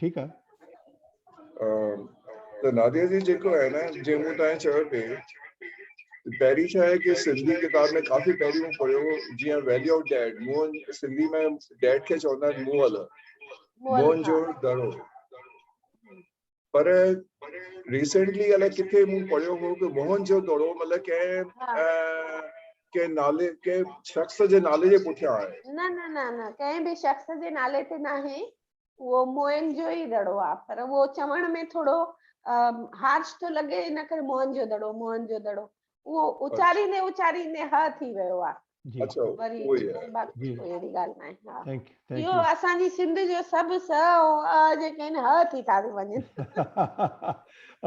S1: ٺيڪ آ
S4: ته ناديا جي جيڪو آهي نه جي مون تائين چيو پي پهرين ڇا آهي ڪي سنڌي ڪتاب ۾ ڪافي پهرين مون پڙهيو هو جيئن ويليو آف ڊيڊ مون سنڌي ۾ ڊيڊ کي چوندا آهن موهل موهن
S2: جو دڙو
S4: پر ريسنٽلي الائي ڪٿي مون پڙهيو هو ته موهن جو دڙو مطلب ڪنهن ڪي نالي ڪي شخص جي نالي جي پٺيان آهي نه نه نه نه
S2: ڪي به شخص جي نالي تي نه آهي اهو موهن جو ئي دڙو آهي پر اهو چوڻ ۾ ٿورو هارش ٿو لڳي ان ڪري موهن جو دڙو موهن جو دڙو اهو اچاريندي اچاريندي ه ٿي ويو آ. اچو وري
S4: باقي ڪو اهڙي
S2: ڳالهه ناهي ها اهو اسان
S1: جي سنڌ
S2: جو سڀ س ۽ ا جيڪي آهن ه ٿي ٿا وڃن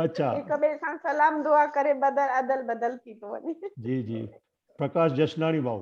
S1: اچا هڪ ٻئي سان
S2: سلام دعا ڪري بدل ادل بدل ٿي ٿو وڃي جي جي
S1: پرڪاش جشناڻي ڀائو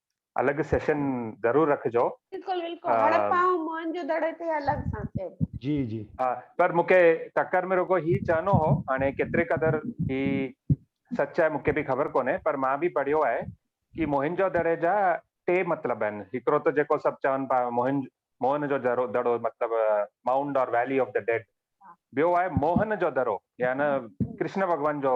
S3: الڳ سيشن ضرور رکجو. بلڪل بلڪل هڙپا
S2: ۽ موئن جو دڙو تي الڳ سان ڪيو. جي جي. ها
S1: پر مون کي
S3: ٽڪر ۾ رڳو هي چئنو هو هاڻي ڪيتري قدر هي سچ آهي مون کي به خبر ڪونهي پر مان به پڙهيو آهي ڪي موهن جو دڙي جا ٽي مطلب آهن هڪڙو ته جيڪو سڀ چون پيا موهن موهن جو دڙو دڙو مطلب mound or valley of the dead ٻيو آهي موهن جو درو يعني ڪرشن ڀڳوان جو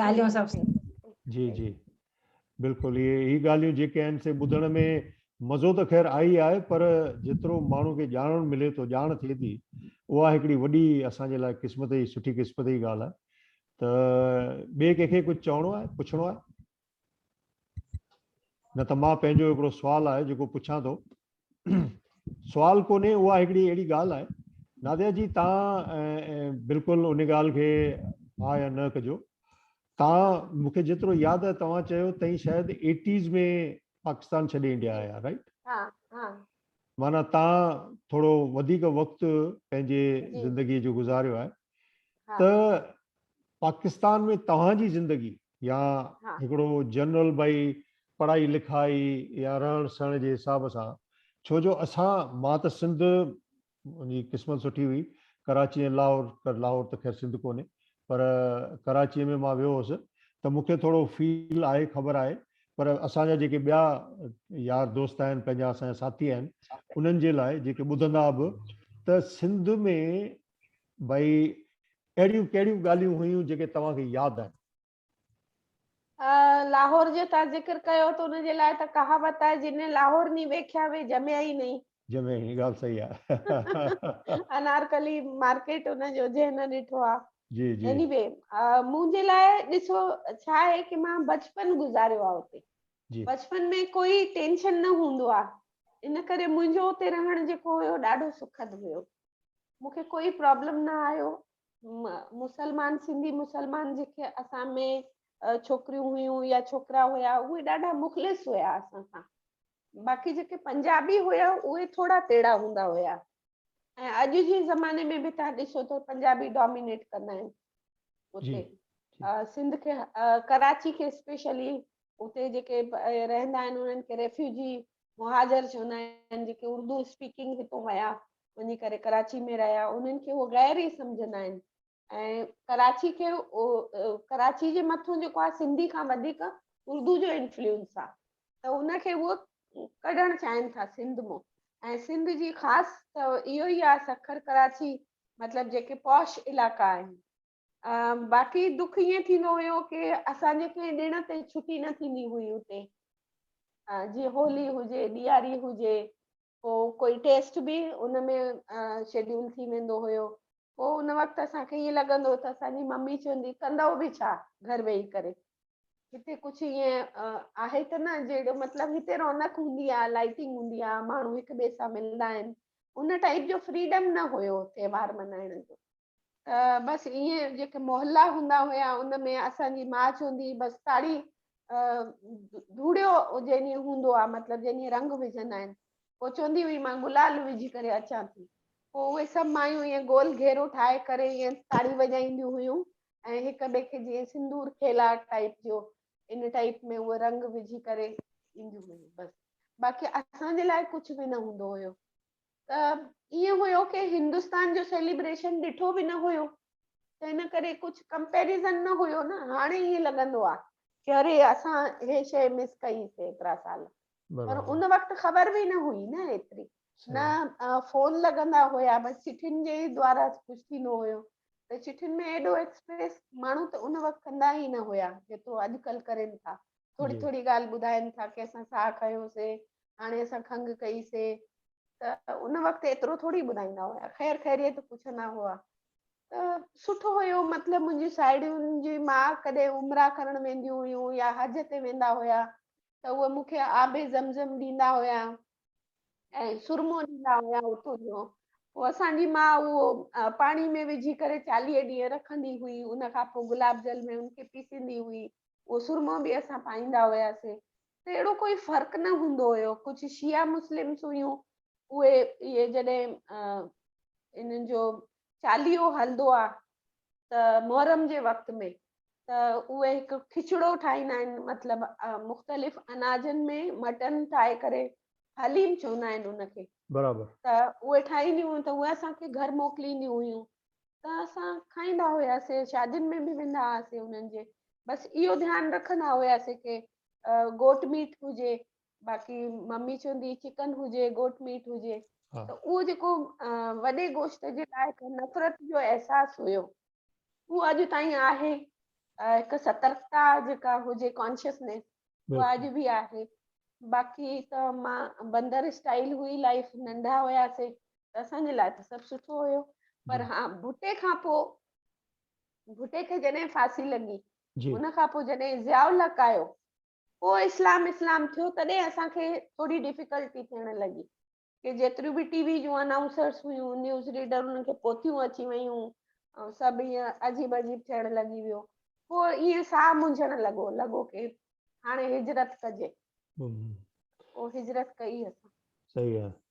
S5: ڳالهيون سڀ سي. جي جي
S1: بلڪل اهي اهي ڳالهيون جيڪي آهن سي ٻڌڻ ۾ مزو ته خير آئي آهي پر جيترو ماڻهو کي ڄاڻڻ ملي ٿو ڄاڻ ٿئي ٿي اها هڪڙي وڏي اسان جي لاء قسمت جي سٺي قسمت جي ڳالهه آهي ته ٻئي ڪنهن کي ڪجهه چوڻو آهي پڇڻو آهي نه ته مان پنهنجو هڪڙو سوال آهي جيڪو پڇان ٿو سوال ڪونهي اها هڪڙي اهڙي ڳالهه آهي ناديا جي تان بلڪل ان ڳالهه کي ها يا نه ڪجو تان مون کي جيترو ياد آهي توهان چيو تئين شايد ايٽيز ۾ پاڪستان ڇڏي انڊيا آيا رائٽ ها ها
S2: مانا تان
S1: ٿورو وڌيڪ وقت پنهنجي زندگي جو
S2: گذاريو آهي
S1: ته پاڪستان ۾ توهان جي زندگي يا هڪڙو
S2: جنرل
S1: ڀئي پڙهائي لکائي يا رهڻ سهڻ جي حساب سان ڇو جو اسان مان ته سنڌ جي قسمت سٺي هئي ڪراچي ۽ لاهور لاهور ته خير سنڌ ڪونهي پر ڪراچي ۾ مان ويو هوس ته مون کي ٿورو فيل آهي خبر آهي پر اسان جا جيڪي ٻيا يار دوست آهن پنهنجا اسان جا ساٿي آهن انهن جي لاء جيڪي ٻڌندا به ته سنڌ ۾ ڀئي اهڙيون ڪهڙيون ڳالهيون هيون جيڪي توهان کي ياد آهن؟
S2: لاهور جو تان ذڪر ڪيو ته ان جي لاء ته ڪهاوت آهي جنهن ني لاهور ني ويکيا وي جميا ئي نهين. جميا ئي نهين ڳالهه صحيح
S1: آهي. انارڪلي
S2: مارڪيٽ ان جو جنهن نه ڏٺو آ. جي جي. ايني وي منهنجي لاء ڏسو ڇا آهي ڪي مان بچپن گذاريو آ اتي. جي. بچپن ۾
S1: ڪوئي
S2: ٽينشن نه هوندو آ ان ڪري منهنجو اتي رهڻ جيڪو هيو ڏاڍو سکد هيو. مون کي ڪوئي پرابلم نه آيو مسلمان سنڌي مسلمان جيڪي اسان ۾ ڇوڪريون هيون يا ڇوڪرا هيا اهي ڏاڍا مخلص هيا اسان سان باقي جيڪي پنجابي هيا اهي ٿورا تيڙا هوندا هيا ۽ اڄ جي زماني ۾ به تان ڏسو ته پنجابي ڊومينيٽ ڪندا آهن اتي سنڌ کي ڪراچي کي اسپيشلي اتي جيڪي رهندا آهن انهن کي ريفيوجي مهاجر چوندا آهن جيڪي اردو اسپيڪنگ هتو ويا وڃي ڪري ڪراچي ۾ رهيا انهن کي هو غير ئي سمجهندا آهن ۽ ڪراچي کي ڪراچي جي مٿو جيڪو آهي سنڌي کان وڌيڪ اردو جو انفلوئنس آهي ته ان کي هو ڪڍڻ چاهين ٿا سنڌ مون ۽ سنڌ جي خاص ته اهو ئي آهي سکر ڪراچي مطلب جيڪي پوش علائقا آهن باقي دک ائين ٿيندو هيو ڪي اسان جي ڪنهن ڏڻ تي ڇٽي نه ٿيندي هئي اتي جي هولي هجي ڏياري هجي پو ڪوئي ٽيسٽ به ان ۾ شيڊيول ٿي ويندو هيو پو ان وقت اسان کي ائين لڳندو ته اسان جي ممي چوندي ڪندو به ڇا گهر ويهي ڪري هتي ڪجهه ائين آهي ته نه جهڙو مطلب هتي رونق هوندي آهي لائٽنگ هوندي آهي ماڻهو هڪ ٻئي سان ملندا آهن ان ٽائيپ جو فريڊم نه هيو تهوار ملهائڻ جو بس ائين جيڪي محلا هوندا هيا ان ۾ اسان جي ماچ هوندي هئي بس ڪاڙي ڌوڙيو جنهن هوندو آ مطلب جنهن رنگ وجهندا آهن پوء چوندي هئي مان گلال وجهي ڪري اچان ٿي پوء اهي سڀ مايون ائين گول گهيرو ٺاهي ڪري ائين تاڙي وڄائينديون هيون ۽ هڪ ٻئي کي جيئن سندور کيلا ٽائيپ جو ان ٽائيپ ۾ اهي رنگ وجهي ڪري اينديون هيون بس باقي اسان جي لاء ڪجهه به نه هوندو هيو ته ائين هيو ڪي هندستان جو سيليبريشن ڏٺو به نه هيو ته ان ڪري ڪجهه ڪمپيريزن نه هيو نه هاڻي ائين لڳندو آ ڪي اري اسان هي شي مس ڪئي سي ايترا سال پر ان وقت خبر به نه هئي نه ايتري نه فون لڳندا هيا بس چٺين جي دوارا ڪجهه ٿيندو هيو ته چٺين ۾ ايڏو ايڪسپريس ماڻهو ته ان وقت ڪندا ئي نه هيا جيترو اڄڪلهه ڪرين ٿا ٿوري ٿوري ڳالهه ٻڌائين ٿا ڪي اسان ساهه کنيو سي هاڻي اسان کنگهه ڪئي سي ته ان وقت ايترو ٿوري ٻڌائيندا هيا خير خيريت پڇندا هئا ته سٺو هيو مطلب منهنجي ساهيڙيون جي ماء ڪڏهن عمره ڪرڻ وينديون هيون يا حج تي ويندا هيا ته اهي مون کي آب زمزم ڏيندا هيا ۽ سرمو ڏيندا هيا اتو جو پوء اسان جي ماء اهو پاڻي ۾ وجهي ڪري چاليهه ڏينهن رکندي هئي ان کان پوء گلاب جل ۾ ان کي پيسيندي هئي اهو سرمو به اسان پائيندا هياسين ته اهڙو ڪوئي فرق نه هوندو هيو ڪجهه شيعا مسلمس هيون اهي اهي جڏهن انهن جو چاليهو هلندو آ ته محرم جي وقت ۾ ته اهي هڪ کچڙو ٺاهيندا آهن مطلب مختلف اناجن ۾ مٽن ٺاهي ڪري حليم چوندا آهن ان کي برابر ته
S1: اهي ٺاهينديون
S2: هيون ته اهي اسان کي گهر موڪلينديون هيون ته اسان کائيندا هياسي شادين ۾ به ويندا هئاسي انهن جي بس اهو ڌيان رکندا هياسي ڪي گوٽ ميٽ هجي باقي ممي چوندي هئي چڪن هجي گوٽ ميٽ هجي ته اهو جيڪو وڏي گوشت جي لاء نفرت جو احساس هيو اهو اڄ تائين آهي هڪ سترڪتا جيڪا هجي ڪانشيسنيس اها اڄ به آهي باقي ته مان بندر اسٽائل هئي لائف ننڍا هياسي ته اسان جي لاء ته سڀ سٺو هيو پر ها ڀٽي کان پوء ڀٽي کي جڏهن ڦاسي لڳي ان کان پوء
S1: جڏهن
S2: ضياء الحق آيو پوء اسلام اسلام ٿيو تڏهن اسان کي ٿوري ڊفيڪلٽي ٿيڻ لڳي ڪي جيتريون به ٽي وي جون انائونسرس هيون نيوز ريڊر انهن کي پوٿيون اچي ويون ۽ سڀ ائين عجيب عجيب ٿيڻ لڳي ويو پوء ائين ساهه منجهڻ لڳو لڳو ڪي هاڻي هجرت ڪجي پوء هجرت ڪئي اسان صحيح آهي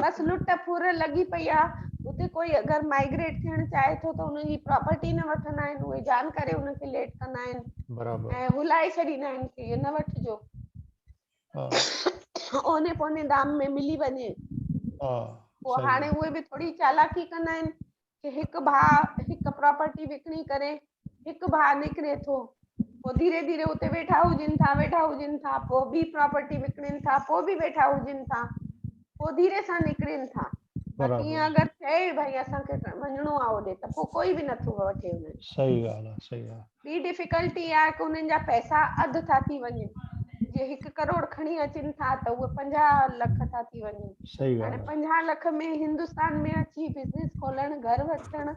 S1: بس لٽ
S2: ڦر لڳي پئي آ اتي ڪوئي اگر مائگريٽ ٿيڻ چاهي ٿو ته ان جي پراپرٽي نه وٺندا آهن اهي جان ڪري ان کي ليٽ ڪندا آهن برابر ۽ هلائي
S1: ڇڏيندا
S2: آهن ڪي نه وٺجو اوني پوني دام ۾ ملي وڃي ها پو هاڻي اهي به ٿوري چالاڪي ڪندا آهن کي هڪ ڀاء هڪ پراپرٽي وڪڻي ڪري هڪ ڀاء نڪري ٿو پوء ڌيري ڌيري اتي ويٺا هجن ٿا ويٺا هجن ٿا پوء ٻي پراپرٽي وڪڻين ٿا پوء به ويٺا هجن ٿا پوء ڌيري سان نڪرين ٿا باقي ائين اگر چئي ڀائی اسان کي وڃڻو آهي هوڏي ته پوء ڪوئي به نٿو وٺي وڃي صحيح ڳالهه آهي صحيح ڳالهه
S1: ٻي ڊفيڪلٽي اها
S2: آهي ته انهن جا پئسا اڌ ٿا ٿي وڃن جي هڪ ڪروڙ کڻي اچن ٿا ته اهي پنجاهه لک ٿا ٿي وڃن هاڻي پنجاهه
S1: لک
S2: ۾ هندستان ۾ اچي بزنس کولڻ گهر وٺڻ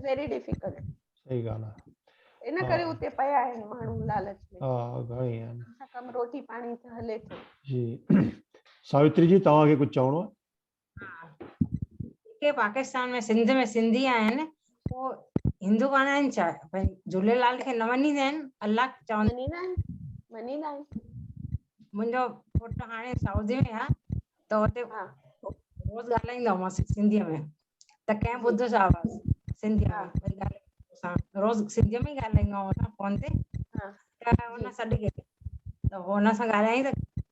S2: ويري ڊفيڪلٽ صحيح ڳالهه آهي
S1: ان ڪري اتي پيا
S2: آهن ماڻهو لالچ ۾ ها گهڻي آهن
S1: ڪم روٽي پاڻي
S2: ته هلي ٿو جي
S1: ساوتري جي توهان کي ڪجهه چوڻو آهي جيڪي
S5: پاڪستان ۾ سنڌ ۾ سنڌي آهن پوء هندو ڪانه آهن ڇا ڀائی جھوليلال کي نه مڃيندا آهن الله چوندا مڃيندا آهن مڃيندا آهن منهنجو پٽ هاڻي سعودي ۾ آ ته اتي روز ڳالهائيندو آ مانس سنڌي ۾ ته ڪنهن ٻڌو سا آواز سنڌي ۾ روز سنڌي ۾ ڳالهائيندو آ فون تي ته هن سڏ ڪيو ته هن سان ڳالهائين ته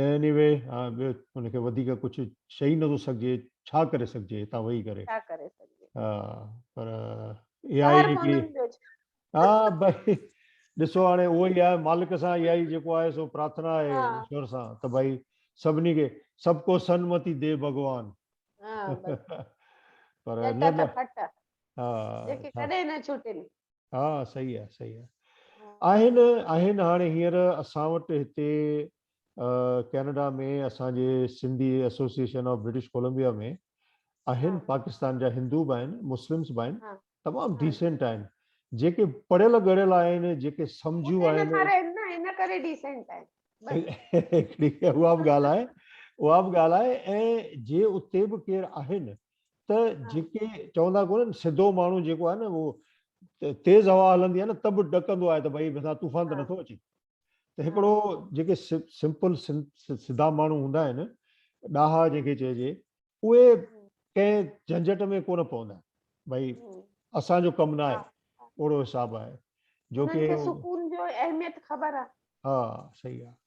S1: ايني وي ان کي وڌيڪ ڪجهه چئي نٿو سگهجي ڇا ڪري سگهجي هتان ويهي ڪري ڇا ڪري سگهجي ها پر اي آئي هڪڙي ها بھي ڏسو هاڻي اهو ئي آهي مالڪ سان اي آئي جيڪو آهي سو پرارٿنا آهي ايشور سان ته بھي سڀني کي سڀ کو سنمتي دي ڀڳوان ها بس پر نه ها جيڪي ڪڏهن نه ڇٽن ها صحيح آهي صحيح آهي آهن آهن هاڻي هينئر اسان وٽ هتي ڪينيڊا ۾ اسان جي Sindhi association of British Columbia ۾ آهن پاڪستان جا هندو به آهن مسلمس به آهن تمام ڊيسنٽ آهن جيڪي پڙهيل ڳڙهيل آهن جيڪي سمجهيون آهن ان ڪري ڊيسنٽ آهن اها به ڳالهه آهي اها به ڳالهه آهي ۽ جي اتي به ڪير آهن ته جيڪي چوندا ڪونهن سڌو ماڻهو جيڪو آهي نه اهو تيز هوا هلندي آهي نه ته به ڏڪندو آهي ته ڀئي مٿان طوفان ته نٿو اچي ته هڪڙو جيڪي سمپل سڌا ماڻهو هوندا آهن ڏاها جيڪي چئجي اهي ڪنهن جھنجھٽ ۾ ڪونه پوندا آهن ڀئي اسان جو ڪم نه آهي اهڙو حساب آهي جو ڪي سڪون جو اهميت خبر آهي ها صحيح آهي